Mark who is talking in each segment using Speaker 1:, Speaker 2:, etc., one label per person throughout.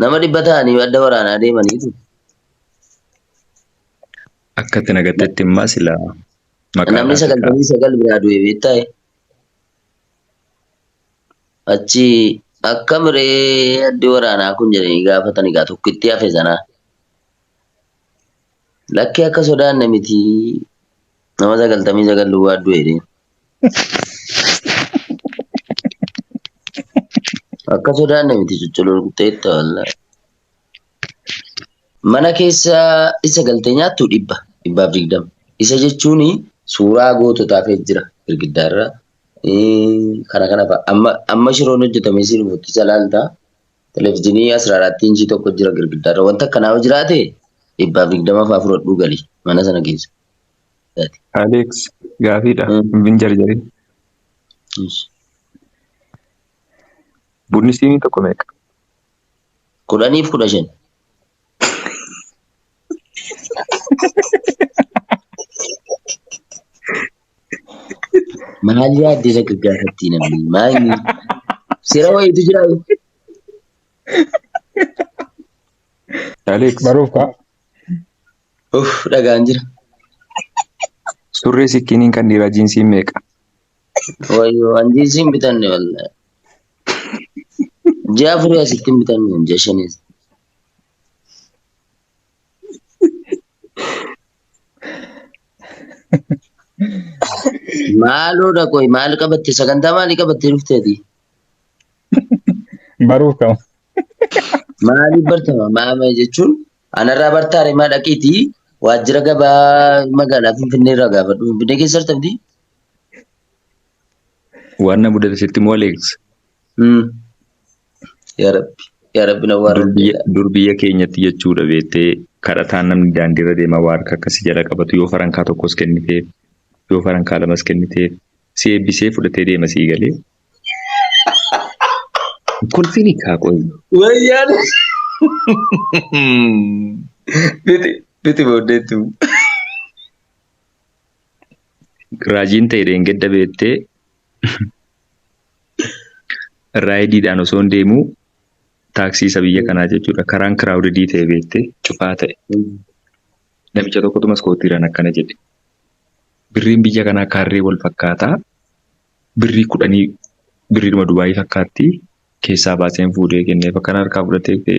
Speaker 1: Nama dhibba ta'anii adda waraanaa deemaniitu.
Speaker 2: Akka itti nagattetti immaa silaa maqaa Namni laata sagaltamii sagal
Speaker 1: biraa
Speaker 2: du'e beektaa'e.
Speaker 1: Achi akka miree addi waraanaa kun jedhanii gaafatanii gaa tokkitti hafe sanaa. Lakkii akka sodaanne miti nama sagaltamii sagal duwwaa du'e jedheen. Akka sodaanne miti cucculuqxeetta wallaahi. Mana keessa isa galtee nyaattu dhibba dhibbaaf digdama. Isa jechuun suuraa goototaa kee jira girgiddaarra. Kana kana fa'a. Amma amma shiroon hojjetamee siin fokkiisa laaltaa. Televizhinii asra irratti inchii tokko jira girgiddaa irra. Wanta akkanaa yoo jiraate dhibbaaf digdama fa'aa fudhadhuu gali mana sana keessa. Isaati.
Speaker 2: Alex gaafiidha. Mm. Hin jarjarin. Ish. Bunni siinii tokko meeqa?
Speaker 1: Kudhaniif kudha shan. Maal yaadde isa gaggaafattii namni? Maal sira wayiitu jira.
Speaker 2: Aleeks Baruuf kaa.
Speaker 3: Uff dhagaan
Speaker 1: jira.
Speaker 2: surree sikkiniin kan dhiiraa jiinsiin meeqa? Wayyoo
Speaker 1: an jiinsii hin bitanne wallaahi. Ji'a afurii asitti hin bitanne ji'a shaniis. Maaloo dha qoy maal qabatte sagantaa maalii qabattee dhufteeti?
Speaker 3: Baruuf kama.
Speaker 1: Maaliif bartama? Maama jechuun anarraa bartaa remaa dhaqiiti waajjira gabaa magaalaa Finfinnee irraa gaafadhu. Finfinnee keessa argamti?
Speaker 2: Waan na mudate sitti moo Aleeks? Hmm.
Speaker 1: Yaa Rabbi. Yaa Rabbi na waarra Durbiyya, durbiyya keenyatti
Speaker 2: jechuudha beettee kadhataan namni daandiirra deema waa harka akkasi jala qabatu yoo farankaa tokkos kenniteef yoo farankaa lamas kenniteef si eebbisee fudhatee deema sii galee. Kolfiin hiikaa qoyi. Wayyaan.
Speaker 1: Biti biti booddeettu.
Speaker 2: Raajiin ta'e dheengedda beettee Raayidiidhaan osoon deemu taaksii isa biyya kanaa jechuudha. Karaan kiraawudidii ta'e beekte cufaa ta'e. Namicha tokkotu maskootiiraan akkana jedhe. Birriin biyya kanaa kaarree wal fakkaataa birrii kudhanii birriidhuma Dubaayii fakkaatti keessaa baaseen fuudhee kenneef akkana harkaa fudhatee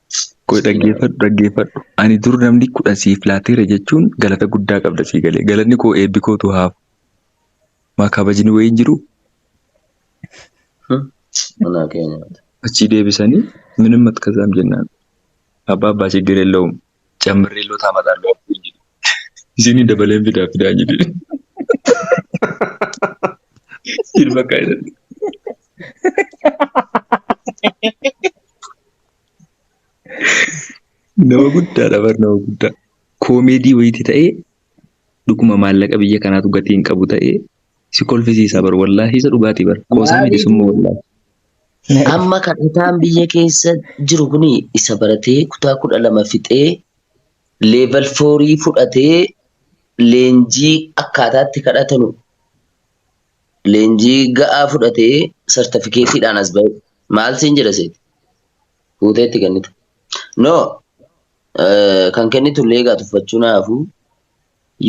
Speaker 1: Qoy dhaggeeffadhu
Speaker 2: dhaggeeffadhu ani dur namni kudhan siif laateera jechuun galata guddaa qabda sii galee galanni koo eebbi kootu haafu maa kabajni wayiin jiru
Speaker 1: Manaa kee nyaata. achii deebisanii
Speaker 2: minim matkazaam jennaan abbaa abbaa chiggir yellawum cammirree loo taamataan loo abbuu hin jedhu isinii dabaleen fidaa fidaa jedhe ilma kaayilatti Nama guddaadha bar nama guddaa. Koomeedii wayiiti ta'ee dhuguma maallaqa biyya kanaatu gatii hin qabu ta'ee si kolfisiisaa bar wallaahi isa dhugaatii bar qoosaa Maaliif? miti summa wallaahi. Amma
Speaker 1: kadhataan biyya keessa jiru kun isa baratee kutaa kudha lama fixee leeval foorii fudhatee leenjii akkaataatti kadhatanu leenjii ga'aa fudhatee sartifikeetiidhaan as ba'e. Maal siin jedha seeti? fuutee itti kennita. No eh, kan kennitu illee egaa tuffachuu naa hafuu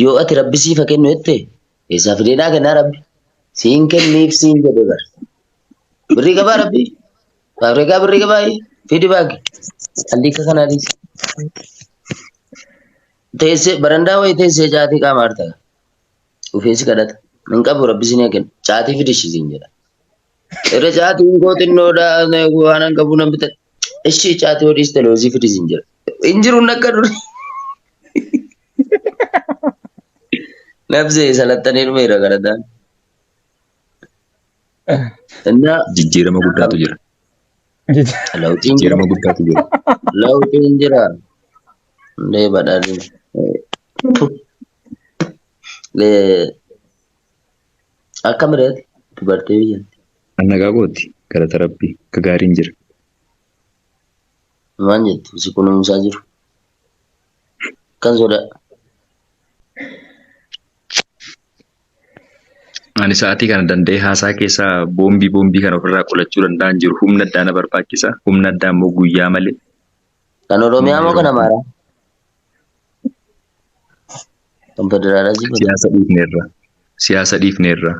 Speaker 1: yoo ati rabbi siif haa kennu jette eessaa fidee naa kennaa rabbi siin kenniif siin jedhe bar birrii qabaa rabbi faabreekaa birrii qabaa fidi baagi alliika kanaa dhiisi teessee barandaa wayii teessee caatii qaama hartaa ofiin si kadhata hin qabu rabbi siin haa kennu caatii fidishii siin jedha Irra caatiin koo xinnoodha waan an qabu nan bitadha. Ishii caatii hodhiis televezii fidis hin jira. Hin jiru nakka duri. Nabzee salattanii dhumeera galataan.
Speaker 2: Innaa Jijjiirama guddaatu jira. lawxiin jira. Jijjiirama guddaatu jira. Lawxiin
Speaker 1: jira. Hundee badhaadhina. Lee Akka mirati dubartee biyyatti. An nagaa kooti
Speaker 2: galata rabbii gagaariin jira.
Speaker 1: Maal jettu si kunuunsaa jiru kan sodaa.
Speaker 2: Ani sa'aatii kana danda'ee haasaa keessa boombii boombii kana ofirraa qolachuu danda'an jiru. Humna addaa na barbaachisa. Humna addaa immoo guyyaa malee Kan Oromiyaa
Speaker 1: moo kan Amaaraa? Kan federaalaa si godhe. Siyaasa dhiifneerra.
Speaker 2: Siyaasa dhiifneerra.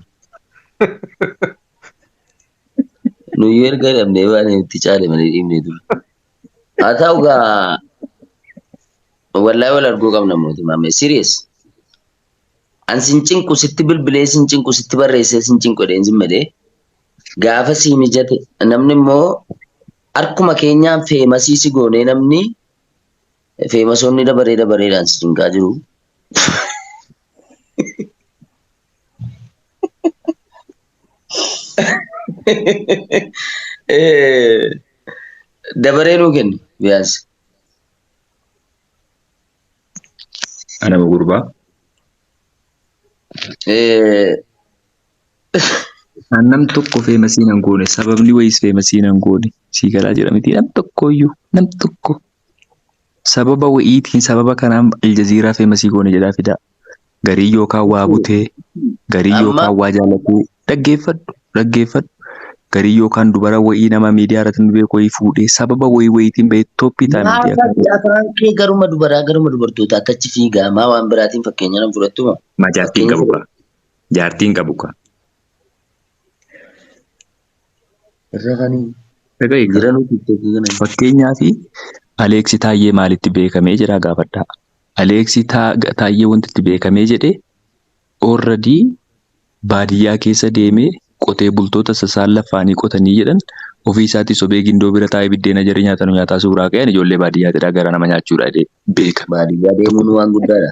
Speaker 1: Nuyyuu erga dhabnee waan itti caale malee dhiibnee ture. Haa ta'u gaa wallahi wal arguu qabna mootummaa mee serious. An sin cinqu sitti bilbilee sin cinqu sitti barreessee sin cinqu jedheen sin malee gaafa sii mijate namni immoo Harkuma keenyaan feemasii si goonee namni feemasoonni dabaree dabareedhaan si cinqaa jiru. Dabaree nuu kenni biyaansi.
Speaker 2: Anama gurbaa. Isaan nam tokko feemasiin hin goone sababni wayiis feemasiin hin goone sii galaa jira miti nam tokkoyyuu nam tokko sababa wayiitiin sababa kanaan aljaziiraa feemasii goone jedhaa fidaa garii yookaan waa butee garii Amma- yookaan waa jaalatee dhaggeeffadhu dhaggeeffadhu garii yookaan dubara wayii nama miidiyaa irratti nu beeku wayii fuudhee sababa wayii wayiitiin bahee tooppii ta'a miidiyaa Maafatti kanarratti afaan kee
Speaker 1: garuma dubaraa garuma dubartootaa attachi fiigaa maa waan biraatiin fakkeenya nan fudhattu moo? majaajjiin Fakkeenya qabu
Speaker 2: qaba. Jaartii hin qabu kaa. Irra kanii. Dhaga eegaa. Jira nuti tokko kana. Fakkeenyaaf Aleeksi Taayyee maalitti beekamee jedhaa gaafadhaa. Aleeksi Taayyee wanti itti beekamee jedhe orradii baadiyyaa keessa deemee qotee bultoota sasaan laffaanii qotanii jedhan ofii isaatii sobee gindoo bira taa'ee biddeena jarri nyaatanu nyaataa suuraa ka'een ijoollee baadiyyaatidhaa gara nama nyaachuudha jedhee beeka. Baadiyyaa deemuun
Speaker 1: waan guddaadha.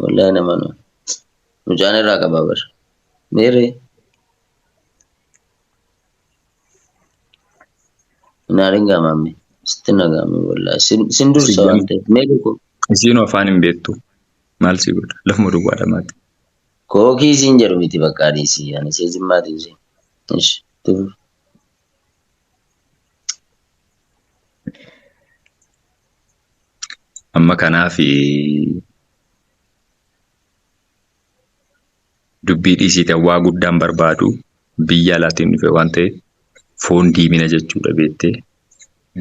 Speaker 1: Wallahi nama nu. Mucaan irraa qabaa bar. Meerre. Naarin gaamaamne. Sitti nagaame wallahi. Sin sin dursa Siyyan. waan ta'eef. Meerre koo. Isiinuu afaan hin
Speaker 2: beektu. Maal si godha? Lafuma duwwaa dhamaati. Kookii
Speaker 1: siin jedhu miti bakka adiisii. Ani see jimmaatiin see. Ish. Tufu.
Speaker 2: amma kanaaf dubbii dhiisiitan waa guddaan barbaadu biyya alaatiin dhufe waan ta'e foon diimina jechuudha beettee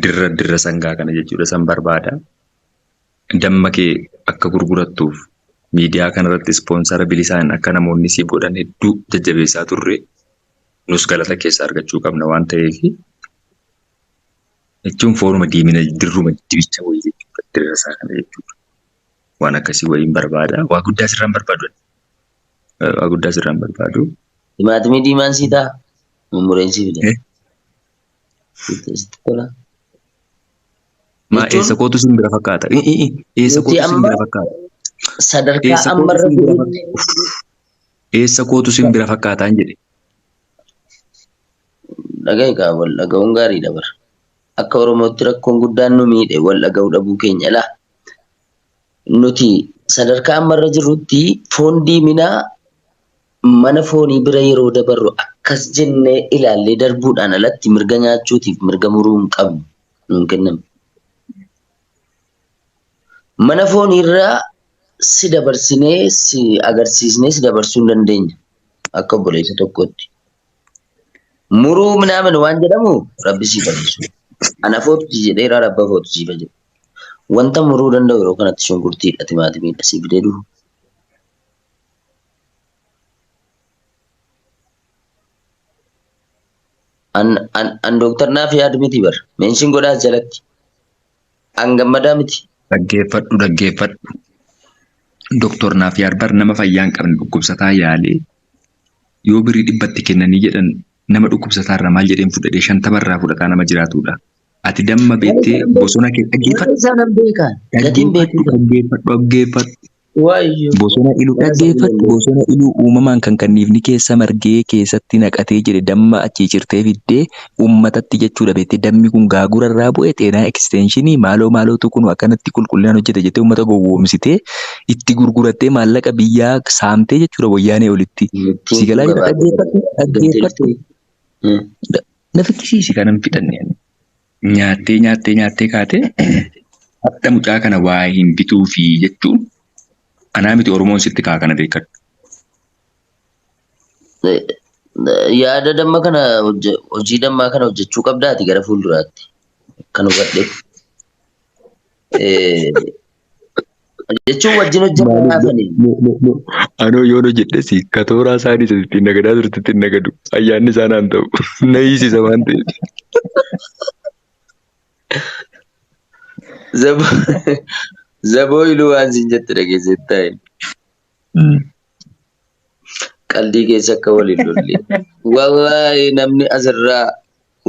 Speaker 2: dirra dirra sangaa kana jechuudha san barbaada damma kee akka gurgurattuuf miidiyaa kanarratti ispoonsara bilisaan akka namoonni siif godhan hedduu jajjabeessaa turre nus galata keessa argachuu qabna waan ta'eef jechuun fooruma diimina dirruma dibicha wayii jechuudha dirra isaa kana jechuudha waan akkasii wayiin barbaada waa guddaa sirraan barbaadu waa guddaa sirraan barbaadu. Timaatimii
Speaker 1: diimaan sii ta'a. Mummureen sii fida. Sitti tola.
Speaker 2: Maa Jechuun- eessa kootu sin bira fakkaata? I- i- i- Eessa Nuti kootu sin amma- bira fakkaata? Sadarkaa
Speaker 1: Eessa amma kootu irra sin bira geenye
Speaker 2: Eessa kootu sin bira fakkaataan jedhe.
Speaker 1: Dhagahi kaa wal dhaga'uun gaariidha bar. Akka Oromootti rakkoon guddaan nu miidhe wal dhaga'uu dhabuu keenya. Ilaa nuti sadarkaa amma irra jirrutti foon diiminaa mana foonii bira yeroo dabarru akkas jennee ilaallee darbuudhaan alatti mirga nyaachuutiif mirga muruu hin qabnu nuun kenname. Mana foon irra si dabarsinee si agarsiisnee si dabarsuu hin dandeenya. Akka obboleessa tokkootti. Muruu minaamin waan jedhamu rabbi siif adeessu. Ana footu si jedheera rabba footu siif jedhu. Wanta muruu danda'u yeroo kanatti shunkurtiidha timaatimiidha siif fidee dhufu. An, an, an dooktar naaf yaadu miti bar. Meenshin godhaas jalatti. An gammadaa miti. Dhaggeeffadhu
Speaker 2: dhaggeeffadhu. Doktor Naafiyaar bar nama fayyaa hin qabne dhukkubsataa yaalee yoo birrii dhibba itti kennanii jedhan nama dhukkubsataa irraa maal jedheen fudhadhee shantama irraa fudhataa nama jiraatuudha. Ati damma beettee bosona kee dhaggeeffadhu. Isaa nan beekaan.
Speaker 1: Gatiin beekuu Dhaggeeffadhu dhaggeeffadhu.
Speaker 2: Waayyo.
Speaker 1: Bosona Iluu
Speaker 2: dhaggeeffadhu bosona Iluu uumamaan kan kanniifni keessa margee keessatti naqatee jedhe damma achii cirtee fiddee uummatatti jechuudha beektee dammi kun gaagura irraa bu'e xeenaa ekisteenshinii maaloo maalootu kunu akkanatti qulqullinaan hojjete jettee uummata gowwoomsitee itti gurgurattee maallaqa biyyaa saamtee jechuudha wayyaanee olitti si galaa jira dhaggeeffadhu dhaggeeffadhu na fikkisiisi kanan fixanne. nyaattee nyaattee nyaattee kaatee hadha mucaa kana waa hin bituufi jechuun anaa miti Oromoon sitti kaa kana beekadhu.
Speaker 1: Yaada damma kana hojje- hojii dammaa kana hojjechuu qabdaati gara fuulduraatti kan hubadhe. Eh, jechuun wajjin hojjannee Maaliif haafanii. mo- mo- mo- anoo
Speaker 2: yoon hojjedhesi ka tooraa isaanii isa ittiin nagadaa turte ittiin nagadu ayyaanni isaa naan ta'u na hiisisa waan ta'eef. Zaboo
Speaker 1: zaboo iluu waan siin jette dhageessee taa'e qaldii keessa akka waliin lolle. Wallaahi namni asirraa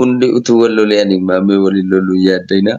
Speaker 1: hundi utuu wal lolee ani maamee waliin loluu yaaddaina.